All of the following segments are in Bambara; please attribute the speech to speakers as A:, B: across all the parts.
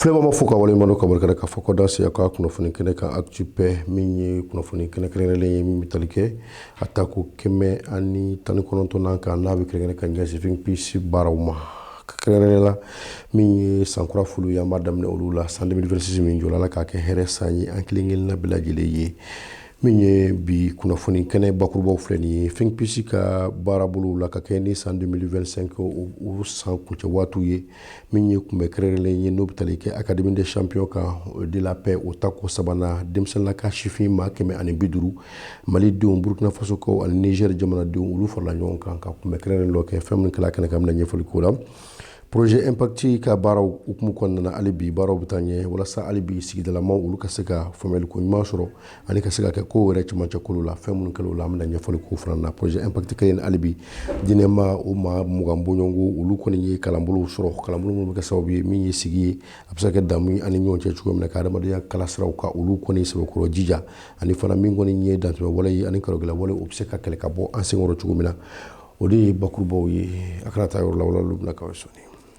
A: filɛbaa maa fo ka waleɲumandɔn ka barika da k'a fɔ ko danse an ka kunnafoni kɛnɛ kan Actu Paix min ye kunnafoni kɛnɛ kɛrɛnkɛrɛnlen ye min bɛ tali kɛ a ta ko kɛmɛ ani tan ni kɔnɔntɔnnan kan n'a bɛ kɛrɛnkɛrɛn ka ɲɛsin Think Peace baaraw ma kɛrɛnkɛrɛnnen la min ye sankura foliw ye an b'a daminɛ olu la san 2026 min jɔla Ala k'a kɛ hɛrɛ san ye an kelen kelenna bɛɛ lajɛlen ye min ye bi kunnafoni kɛnɛ bakurubaw filɛ nin ye Think Peace ka baarabolow la ka kɛ ni san 2025 o san kuncɛ waatiw ye min ye kunbɛn kɛrɛnkɛrɛnlen ye n'o bɛ tali kɛ Académie des champions kan de la paix o tako sabanan denmisɛnninlaka sifin maa kɛmɛ ani bi duuru malidenw burkina faso kaw ani niger jamanadenw olu farala ɲɔgɔn kan ka kunbɛn kɛrɛnkɛrɛnlen dɔ kɛ fɛn min kɛla kɛnɛ kan an bɛna ɲɛfɔli k'o la projet Impact ka baaraw hukumu kɔnɔna na hali bi baaraw bɛ taa ɲɛ walasa hali bi sigidalamaaw olu ka se ka faamuyaliko ɲuman sɔrɔ ani ka se ka kɛ ko yɛrɛ cɛmancɛkolo la fɛn minnu kɛla o la an bɛna ɲɛfɔli k'o fana na projet Impact kelen in hali bi diinɛmaaw maa mugan bɔɲɔgɔnko olu kɔni ye kalanbolo sɔrɔ kalanbolo minnu bɛ kɛ sababu ye min ye sigi ye a bɛ se ka kɛ damu an ni ɲɔgɔn cɛ cogo min na ka adamadenya kala siraw ka olu kɔni sɛbɛkɔrɔ jija ani fana min kɔni ye dantɛmɛwale ye ani karogɛlɛwale u bɛ se ka kɛlɛ ka bɔ an senkɔrɔ cogo min na o de ye bakurubaw ye a kana taa yɔrɔ la wala olu bila ka sɔn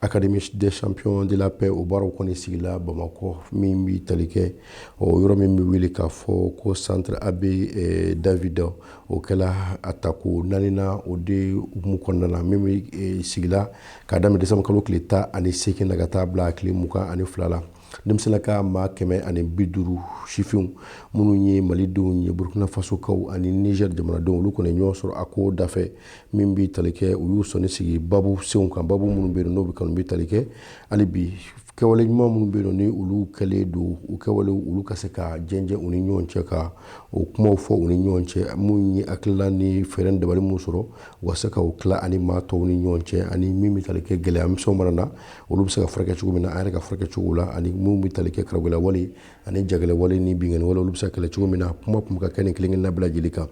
A: Académie des champions de la paix o baaraw kɔni sigila bamakɔ min bɛ tali kɛ o yɔrɔ min bɛ wele k'a fɔ ko centre Abbé David o kɛla a ta ko naaninan o de hukumu kɔnɔna na min bɛ sigila k'a daminɛ décembre kalo tile tan ani segin na ka taa bila a tile mugan ani fila la denmisɛnninlaka maa kɛmɛ ani bi duuru sifinw minnu ye malidenw ye burkina fasokaw ani niger jamanadenw olu kɔni ɲɔgɔn sɔrɔ a ko dafɛ min bɛ tali kɛ u y'u sɔnin sigi baabu senw kan baabu minnu bɛ yen n'o bɛ kanu bɛ tali kɛ hali bi kɛwale ɲuman minnu bɛ yen ni olu kɛlen don u kɛwale olu ka se ka jɛnjɛn u ni ɲɔgɔn cɛ ka o kumaw fɔ u ni ɲɔgɔn cɛ minnu ye hakilila ni fɛɛrɛ dabali minnu sɔrɔ u ka se ka o tila ani maa tɔw ni ɲɔgɔn cɛ ani min bɛ tali kɛ gɛlɛya misɛnw mana na olu bɛ se ka furakɛ cogo min na an yɛrɛ ka furakɛ cogo la ani minnu bɛ tali kɛ karagɛlɛwale ani jagɛlɛwale ni binkanniwale olu bɛ se ka kɛlɛ cogo min na kuma tun bɛ ka kɛ nin kelenna bɛɛ lajɛlen kan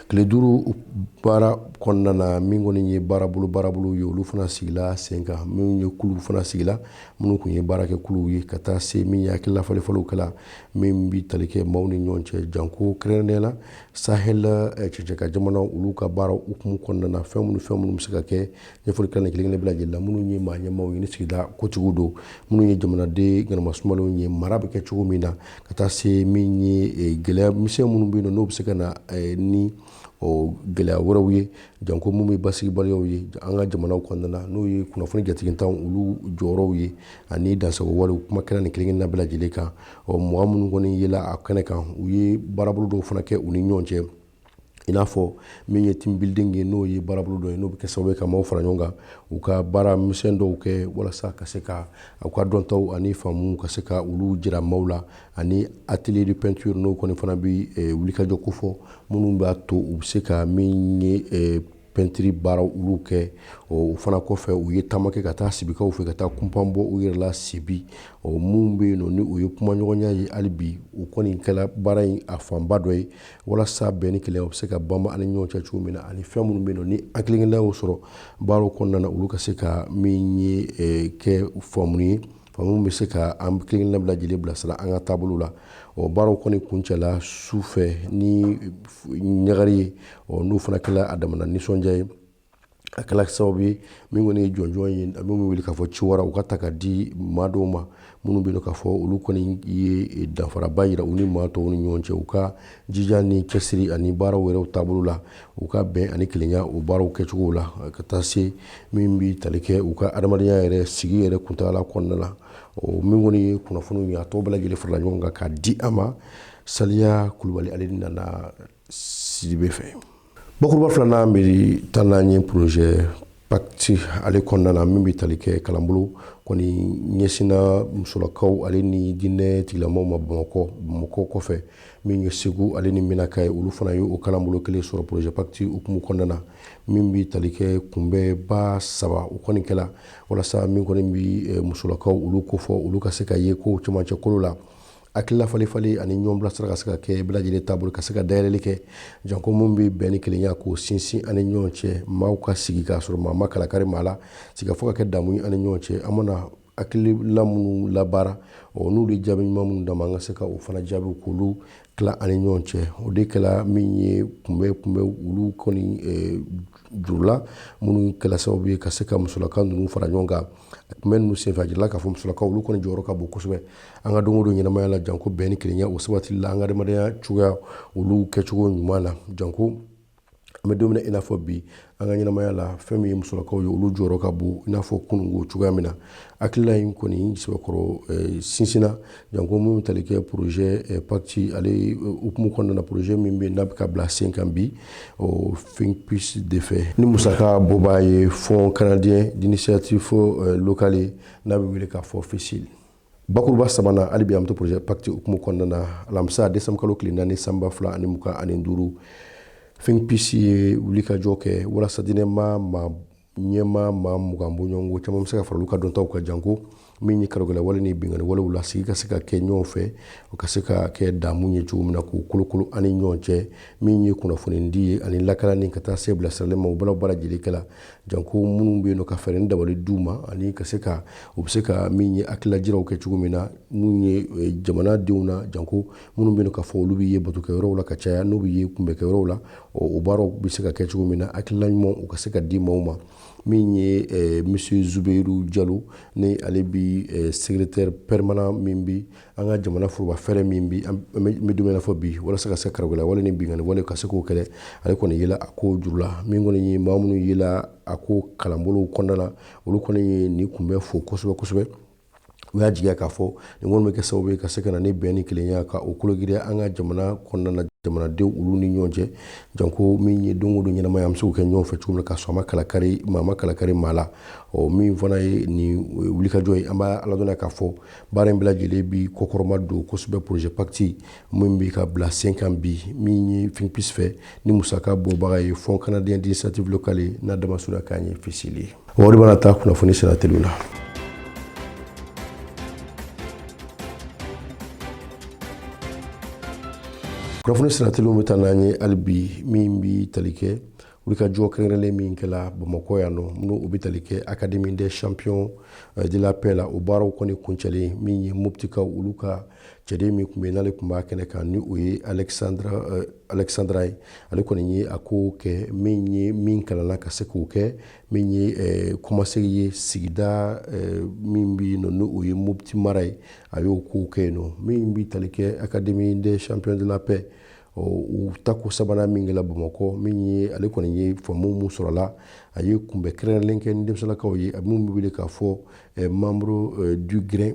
A: tile duuru baara kɔnɔna na min kɔni ye baarabolo baarabolo ye olu fana sigila sen kan minnu ye kulu fana sigila minnu tun ye baara kɛ kuluw ye ka taa se min ye hakilila falenfalenw kɛla min bɛ tali kɛ maaw ni ɲɔgɔn cɛ janko kɛrɛnkɛrɛnnen la sahel eh, cɛcɛ ka jamanaw olu ka baara hukumu kɔnɔna na fɛn minnu fɛn minnu bɛ se ka kɛ ɲɛfɔli kɛla nin kelenna bɛɛ lajɛlen la minnu ye maa ɲɛmaaw ye ni sigida kotigiw don minnu ye jamanaden ŋanama sumalenw ye mara bɛ kɛ cogo min na ka taa se min ye eh, gɛlɛya misɛn minnu bɛ yen n'o bɛ se ka na eh, ni gɛlɛya wɛrɛw ye janko minnu ye basigibaliyaw ye an ka jamanaw kɔnɔna na n'o ye kunnafoni jatigitanw olu jɔyɔrɔw ye ani dansagon walew kuma kɛra nin kelenna bɛɛ lajɛlen kan ɔ mɔgɔ minnu kɔni yela a kɛnɛ kan u ye baarabolo dɔw fana kɛ u ni ɲɔgɔn cɛ i n'a fɔ min ye team building ye n'o ye baarabolo dɔ ye n'o bɛ kɛ sababu ye ka maaw fara ɲɔgɔn kan u ka baara misɛn dɔw kɛ walasa ka se ka u ka dɔntaw ani faamuw ka se ka olu jira maaw la ani atelier de peinture n'o kɔni fana bɛ eh, wulikajɔ ko fɔ minnu b'a to u bɛ se ka min ye eh, peinture baara olu kɛ o fana kɔfɛ u ye taama kɛ ka taa sibikaw fɛ ka taa kunpan bɔ u yɛrɛ la sibi ɔ mun bɛ yen nɔ ni o ye kumaɲɔgɔnya ye hali bi o kɔni kɛla baara in a fanba dɔ ye walasa bɛn ni kelen bɛ se ka banban an ni ɲɔgɔn cɛ cogo min na ani fɛn minnu bɛ yen nɔ ni an kelen-kelenna y'o sɔrɔ baaraw kɔnɔna na olu ka se ka min ye eh, kɛ faamu ye Faamu bɛ se ka an kelen-kelenna bɛɛ lajɛlen bilasira an ka taabolo la o baaraw kɔni kuncɛla su fɛ ni ɲagari ye ɔ n'o fana kɛla a damana nisɔndiya ye a kɛla sababu ye min kɔni ye jɔnjɔn ye min bɛ wele k'a fɔ ciwara u ka ta ka di maa dɔw ma minnu bɛ yen nɔ k'a fɔ olu kɔni ye danfaraba yira u ni maa tɔw ni ɲɔgɔn cɛ u ka jija ni cɛsiri ani baaraw yɛrɛw taabolo la u ka bɛn ani kelenya o baaraw kɛcogo la ka taa se min bɛ tali kɛ u ka adamadenya yɛrɛ sigi yɛrɛ kuntaala kɔnɔna la o min kɔni ye kunnafoniw ye a tɔw bɛɛ lajɛlen farala ɲɔgɔn kan k'a di a ma saliya kulubali ale ni nana sidibe fɛ bakuruba filanan bɛ taa n'an ye projet pacte ale kɔnɔna na min bɛ tali kɛ kalanbolo kɔni ɲɛsinna musolakaw ale ni diinɛ tigilamɔgɔw ma bamakɔ bamakɔ kɔfɛ min ye segu ale ni menaka ye olu fana ye o kalanbolo kelen sɔrɔ projet pacte hukumu kɔnɔna na min bɛ tali kɛ kunbɛnba saba o kɔni kɛla walasa min kɔni bɛ musolakaw olu kofɔ olu ka se ka ye ko camancɛ kolo la hakilila falenfalen ani ɲɔgɔn bilasira ka se ka kɛ bɛɛ lajɛlen taabolo ka se ka dayɛlɛli kɛ janko minnu bɛ bɛn ni kelenya ko sinsin an ni ɲɔgɔn cɛ maaw ka sigi k'a sɔrɔ maa ma kalakari maa la sigi fo ka kɛ damu ye an ni ɲɔgɔn cɛ an mana hakilila minnu labaara ɔ n'u ye jaabi ɲuman minnu d'an ma an ka se ka o fana jaabi k'olu tila an ni ɲɔgɔn cɛ o de kɛla min ye kunbɛn kunbɛn olu kɔni jurula minnu kɛla sababu ye ka se ka musolaka ninnu fara ɲɔgɔn kan kunbɛn ninnu senfɛ a jirala k'a fɔ musolakaw olu kɔni jɔyɔrɔ ka bon kosɛbɛ an ka don o don ɲɛnamaya la janko bɛn ni kelenya o sabatili la an ka adamadenya cogoya olu kɛcogo ɲuman na janko an bɛ don min na i n'a fɔ bi an ka ɲɛnamaya la fɛn min ye musolakaw ye olu jɔyɔrɔ ka bon i n'a fɔ kununko cogoya min na hakilila in kɔni sɛbɛkɔrɔ eh, sinsinna Janko min bɛ tali kɛ projet pacte ale hukumu kɔnɔna na projet min bɛ n'a bɛ ka bila sen kan bi o think peace de fɛ ni musaka bɔbaa ye fonds canadien d'initiatives locales n'a bɛ wele k'a fɔ FCIL bakuruba sabanan hali bi an bɛ projet pacte hukumu kɔnɔna na alamisa décembre kalo tile naani sanba fila ani mugan ani duuru think peace ye wulikajɔ kɛ walasa di ma ma ɲɛmaa maa mugan bɔɲɔgɔnko caman bɛ se ka fara olu ka dɔntaw kan janko min ye karagɛlɛwale ni binkanniwalew la sigi ka se ka kɛ ɲɔgɔn fɛ o ka se ka kɛ damu ye cogo min na k'u kolokolo an ni ɲɔgɔn cɛ min ye kunnafonidi ye ani lakanani ka taa se bilasirali ma u bɛɛ baara lajɛlen kɛla janko minnu bɛ yen nɔ ka fɛɛrɛ ni dabali d'u ma ani ka se ka u bɛ se ka min ye hakililajiraw kɛ cogo min na minnu ye eh, jamanadenw na janko minnu bɛ yen nɔ k'a fɔ olu bɛ ye batokɛyɔrɔw la ka caya n'u bɛ ye kunbɛkɛyɔrɔw la ɔ o baaraw bɛ se ka kɛ cogo min na hakilila ɲumanw ka se ka di maaw ma min ye eh, monsieur Zubeiru Jalo ni ale bi eh, secrétaire permanent min bi an ka jamana foroba fɛɛrɛ min bi an bɛ don min na fɔ bi walasa ka se karagɛlɛya wale ni binkanni wale ka se k'o kɛlɛ ale kɔni yela a ko juru la min kɔni ye maa minnu yela a ko kalanbolow kɔnɔna na olu kɔni ye nin kunbɛ fo kosɛbɛ kosɛbɛ u y'a jigiya k'a fɔ nin kɔni bɛ kɛ sababu ye ka se ka na ni bɛn ni kelenya ka o kologiriya an ka jamana kɔnɔna na jamanadenw olu ni ɲɔgɔn cɛ janko min ye don o don ɲɛnamaya an bɛ se k'o kɛ ɲɔgɔn fɛ cogo min na k'a sɔrɔ maa kalakari maa ma kalakari maa la ɔ min fana ye nin wulikajɔ ye an b'aw ladɔnniya k'a fɔ baara in bɛɛ lajɛlen bi kɔkɔrɔma don kosɛbɛ projet pacte min bɛ ka bila senkan bi min ye think peace fɛ ni musaka bɔbaga ye fonds canadien d'initiatives locales n'a damasura k'a ye FCIL ye wa an mana taa kunnafoni sira teliw la kunnafoni sira teliw bɛ taa n'an ye hali bi min bɛ tali kɛ wulikajɔ kɛrɛnkɛrɛnlen min kɛla bamakɔ yan nɔ n'o bɛ tali kɛ académie des champions de la paix la o baaraw kɔni kuncɛlen min ye moptikaw olu ka cɛden min tun bɛ n'ale tun b'a kɛnɛ kan ni o ye alexandra ye ale kɔni ye a ko kɛ min ye min kalanna ka se k'o kɛ min ye kɔmasegi ye sigida min bɛ yen nɔ n'o ye mopti mara ye a y'o kow kɛ yen nɔ min bɛ tali kɛ académie des champions de la paix u tako sabanan min kɛla bamakɔ min ye ale kɔni ye faamu min sɔrɔla a ye kunbɛ kɛrɛnkɛrɛnlen kɛ ni denmisɛnninlakaw ye a minnu bɛ wele k'a fɔ membre du grain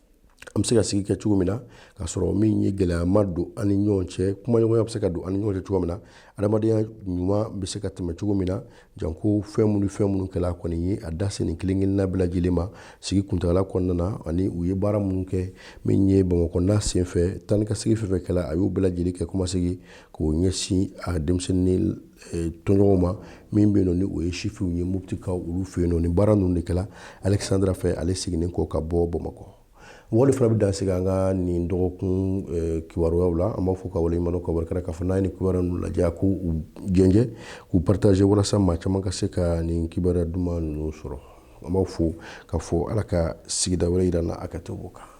A: an bɛ se ka sigi kɛ cogo min na k'a sɔrɔ min ye gɛlɛya ma don an ni ɲɔgɔn cɛ kumaɲɔgɔnya bɛ se ka don an ni ɲɔgɔn cɛ cogo min na adamadenya ɲuman bɛ se ka tɛmɛ cogo min na janko fɛn minnu fɛn minnu kɛla kɔni ye a da se nin kelenkelenna bɛɛ lajɛlen ma sigi kuntaala kɔnɔna na ani u ye baara minnu kɛ min ye bamakɔna senfɛ taa ni ka segin fɛn fɛn kɛla a y'o bɛɛ lajɛlen kɛ kɔmasegi k'o ɲɛsin a denmisɛnnin tɔɲɔgɔnw ma min bɛ yen nɔ ni o ye sifinw ye moptikaw olu fɛ yen nɔ nin baara ninnu de kɛla alexandra fɛ ale seginnen kɔ ka bɔ bamakɔ wa ale fana bɛ dan sigi an ka nin dɔgɔkun kibaruyaw la an b'aw fo k'aw waleɲumanlɔn k'aw wele k'a fɔ n'aw ye nin kibaruya ninnu lajɛ k'u jɛnjɛ k'u partager walasa maa caman ka se ka nin kibaruya duman ninnu sɔrɔ an b'aw fo k'a fɔ ala ka sigida wɛrɛ jira an na a ka to kan